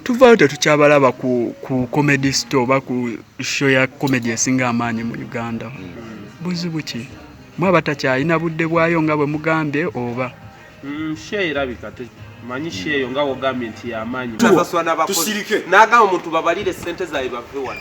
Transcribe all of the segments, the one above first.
tuvaayo tetukyabalaba ku, ku comedy store oba ku show ya comedy esinga amaanyi mu uganda buzibu ki mwaba takyalina budde bwayo nga bwe mugambye oba mm, show erabika manyi sheeyo nga wogambye nti yamaanyi tusirike nagamba omuntu babalire sente zaabwe bave wano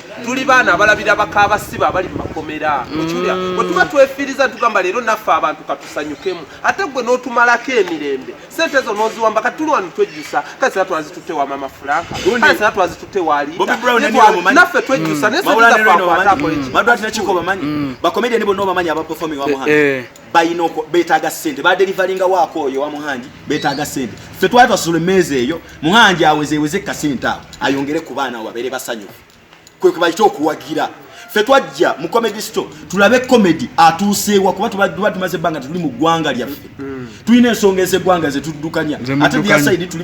tuli baana abalabira bakabasiba abali mu makomera mm. okiwulira bwe tuba twefiiriza tugamba leero naffe abantu katusanyukemu ate gwe n'otumalako emirembe sente ezo n'oziwamba kati tuli wano twejjusa kale sina twazitutte wa mama fulanka kale sina twazitutte waliitanaffe twejjusa mm. naye sente zaffe akwata akola eki bakomediani bonna obamanyi abaperforming wamuhana eh, eh. balina beetaaga ssente badelivalinga waako oyo wa muhangi beetaaga ssente ffe twali twasasula emmeeza eyo muhangi awezeweze kasente awo ayongere ku baana abo babeere basanyufu kwe kwe bakita okuwagira ffe twajja mu comedy store tulabe comedy atuuseewa kuba tuba tumaze ebbanga tetuli mu ggwanga lyaffe mm. tulina ensonga ez'eggwanga ze tuddukanya ate diasaidi tuli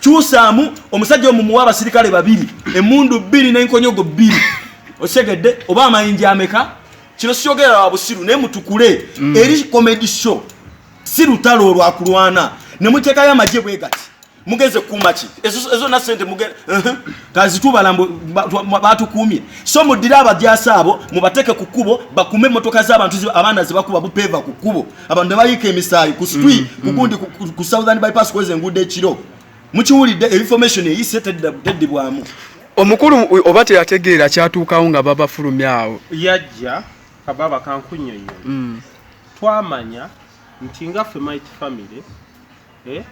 kyusaamu omusajja omumuwa abasirikale babiri emundu bbiri nenkonyogo bbiri osegedde oba amayinja ameka kino sikyogera wa busiru naye mutukule mm. eri comedy show si lutalo olwakulwana nemuteekayo amagye bwe gati mugenze kukuuma ki ezo na sente kazitubala batukuumye so muddire abajaasi abo mubateeke ku kkubo bakume emmotoka z'abantu abaana zebakuba bupeeva ku kkubo abantu nebayiika emisaayi ku street mm, kugundi mm. ku southern bypass kweza enguudo ekiro mukiwulidde information eyise teddibwamu omukulu oba teyategeera kyatuukawo nga babafulumye awo yajja kababa kankunyonyo mm. twamanya nti nga ffe might family Eh?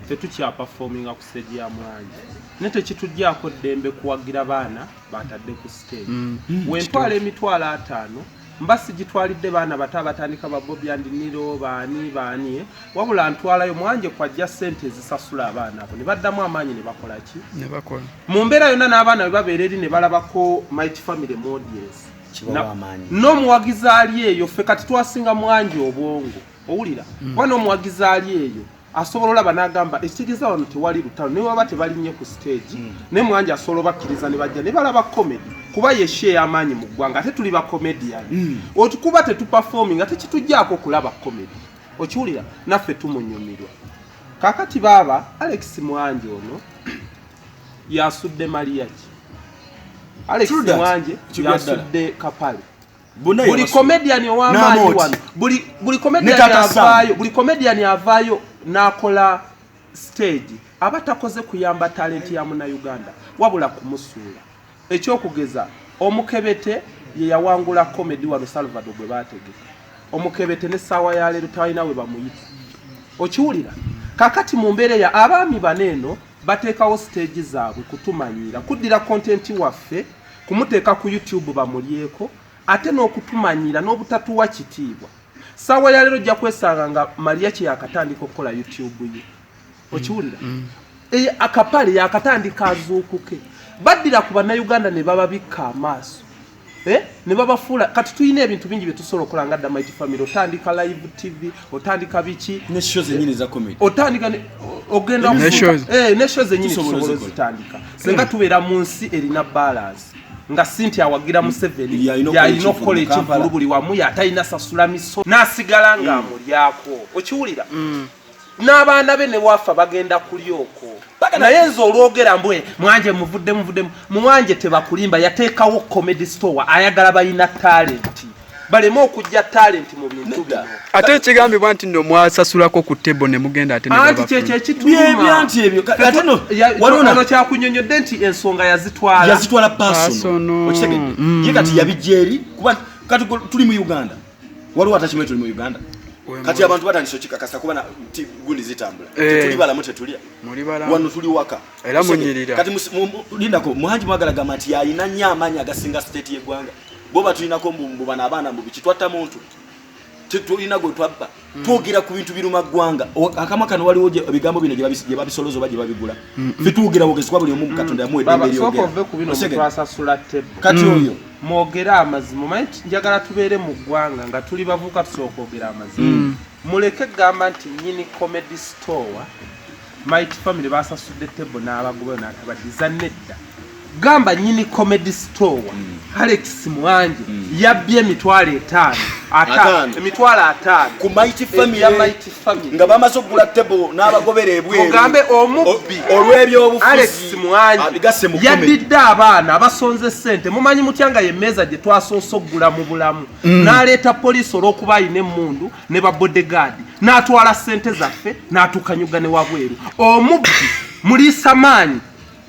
ffe tukyapafominga ku stage ya mwanje naye tekitugyako ddembe kuwagira baana batadde ku stage mm. Mm. wentwala emitwalo ataano mba sigitwalidde baana bato abatandika babobi andiniro baani baani eh? wabula ntwalayo mwanje kwajja sente ezisasula abaana abo ne baddamu amaanyi ne bakola ki mu mbeera yonna n'abaana bwe babeera eri ne balabako might family modies n'omuwagizi ali eyo ffe kati twasinga mwanje obwongo owulira mm. wana omuwagizi ali eyo asobola olaba nagamba ekitegeeza wano tewali lutalo naye waba tebalinye ku stage mm. naye mwanja asobola obakkiriza ne bajja ne balaba comedy kuba yeshe ey'amaanyi mu ggwanga ate tuli bacomedian mm. otukuba tetuperforming ate kitujjaako okulaba comedy okiwulira naffe tumunyumirwa kakati baaba alex mwanje ono yasudde maliyaki alex mwanje yasudde kapale buli comedian owamaanyi wano buli comedian avaayo buli comedian avaayo n'akola stage aba takoze kuyamba talenti ya munauganda wabula kumusuula ekyokugeza omukebete ye yawangula comedy wano salvado gwe baategeka omukebete ne saawa ya leero talina we bamuyita okiwulira kakati mu mbeera eya abaami bano eno bateekawo siteegi zaabwe kutumanyiira kuddira kontenti waffe kumuteeka ku youtube bamulyeko ate n'okutumanyiira n'obutatuwa kitiibwa saawa ya leero ojja kwesanga nga maliya kye yakatandika okukola youtube ye okiwulira mm, mm. Eh, akapale yakatandika azuukuke baddira ku bannayuganda ne bababikka amaaso Eh? ne babafuula kati tulina ebintu bingi bye tusobola okukola nga dda mighty family otandika live tv otandika biki ne show zenyini za comedy otandika ogenda ne show eh, zenyini tusobola zitandika senga hmm. tubeera mu nsi erina balance nga sinti awagira hmm. museveni yalina okukola ekivulu buli wamu yatalina sasula miso nasigala nga hmm. amulyako okiwulira n'abaana be ne wafa bagenda kulya okwo naye nze olwogera mbwe mwanje muvudde muvudde muwanje tebakulimba yateekawo comedy store ayagala balina talenti baleme okujja talenti mu bintu bino ate ekigambibwa nti no mwasasulako ku tebo ne mugenda ate anti kyekyo ekituumaebyanti ebyo ate no waliwo kyakunyonyodde nti ensonga yazitwala yazitwala pasono okitegedde mm. ye kati yabijja eri kuba kati tuli mu uganda waliwo atakimanyi tuli mu uganda kati abantu batandise okikakasa kuba nti gundi zitambula eh. tetuli balamu tetulya wano tuli waka era munyirira kati lindako muhanji mwagala gamba nti yalina nnyo amaanyi agasinga state y'eggwanga bo batulinako mbu bano abaana mbu biki twatta muntu tetulina gwe twabba Mm. twogera ku bintu biruma ggwanga akama kano waliwo ebigambo bino gye babisoloza oba gye babigula mm, mm. fetwogera bwogezibwa buli omu mukatonda yamu edemberyogeraokati oyo mwogere amazima omanyi njagala tubeere mu ggwanga nga tuli bavuuka tusooka ogera amazima muleke gamba nti nyini comedy store Mighty family basasudde table n'abagoba n'atabadiza nedda gamba nyini comedy store mm. Alex Mwanje mm. yabbye emitwalo etaano ataano emitwalo ataano ku Mighty family ya Mighty family nga bamaze okugula table n'abagobera ebweru mugambe omubbi olw'ebyobufuzi Alex Mwanje yaddidde abaana abasonze ssente mumanyi mutya nga ye mmeeza gye twasoose okugula mu bulamu mm. n'aleeta poliisi olw'okuba alina emmundu ne ba bodyguard n'atwala ssente zaffe n'atukanyuga ne wabweru omubbi muliisa maanyi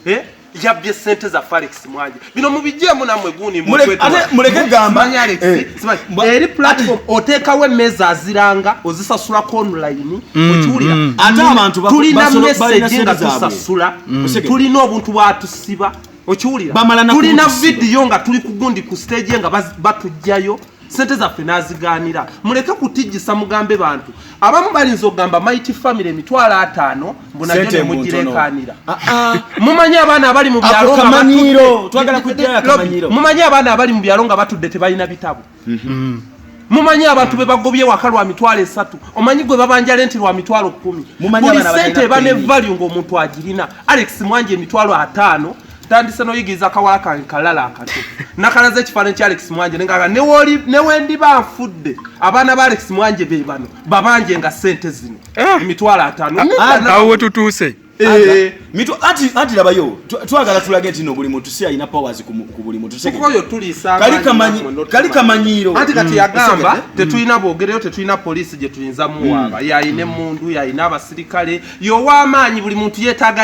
eh? yabbye ssente za farex mwanje bino mubijeemu namwe gundi muleke gamba eh, eri platform oteekawo emmeeza aziranga ozisasula ku online mm, okiwulira mm. ate abantu tulina meseji nga tusasula mm. tulina obuntu bwatusiba okiwulira tulina vidiyo nga tuli kugundi ku stage nga batujjayo sente zaffe n'azigaanira muleke kutijjisa mugambe bantu abamu balinza okugamba mighty family emitwalo ataano mbunajo nemugireekaanira ah, ah. mumanyi abaana abali mu byalomumanyi abaana abali mu byalo nga batudde tebalina bitabo mhm. mumanyi abantu be bagobye waka lwa mitwalo esatu omanyi gwe babanja lenti lwa mitwalo kumi buli sente eba ne value ng'omuntu agirina alex mwanja emitwalo ataano tandise noyigiriza kawala kange kalala akato nakalaza ekifaananyi kya alex mwanje nengaa newendiba nfudde abaana ba alex mwanje be bano babanje nga sente zino eh. emitwalo atano ah, awo wetutuuse eh. anti labayo twagala tulage nti no buli muntu si alina powers ku buli mutukali kamanyiiro anti kati mm. yagamba mm. tetulina bwogereyo tetulina poliisi gye tuyinza muwaaba mm. yalina emundu yalina abasirikale yow'amaanyi buli muntu yeetaaga